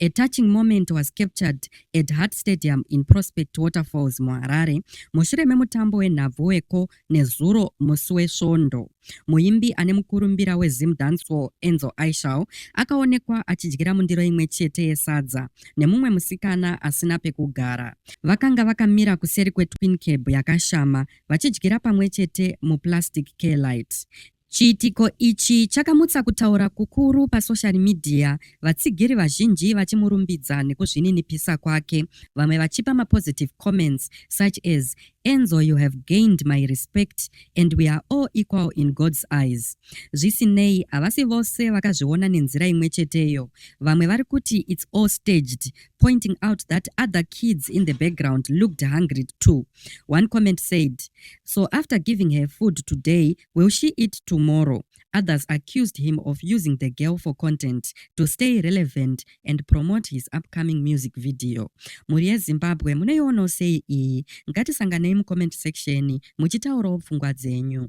A touching moment was captured at Heart Stadium in Prospect Waterfalls muHarare mushure memutambo wenhabvu weko nezuro musi wesvondo. Muimbi ane mukurumbira weZim Dancehall Enzo Aishal akaonekwa achidyira mundiro imwe chete yesadza nemumwe musikana asina pekugara. Vakanga vakamira kuseri kweTwin Cab yakashama vachidyira pamwe chete muplastic care light. Chiitiko ichi chakamutsa kutaura kukuru pasocial media, vatsigiri vazhinji vachimurumbidza nekuzvininipisa kwake, vamwe vachipa mapositive comments such as Enzo you have gained my respect and we are all equal in God's eyes. Zvisinei, havasi vose vakazviona nenzira imwe cheteyo. Vamwe vari kuti it's all staged, pointing out that other kids in the background looked hungry too. One comment said, So after giving her food today, Will she eat tomorrow? Others accused him of using the girl for content to stay relevant and promote his upcoming music video. Mhuri yeZimbabwe munoionawo sei iyi? Ngatisanganei mucomment section muchitaurawo pfungwa dzenyu.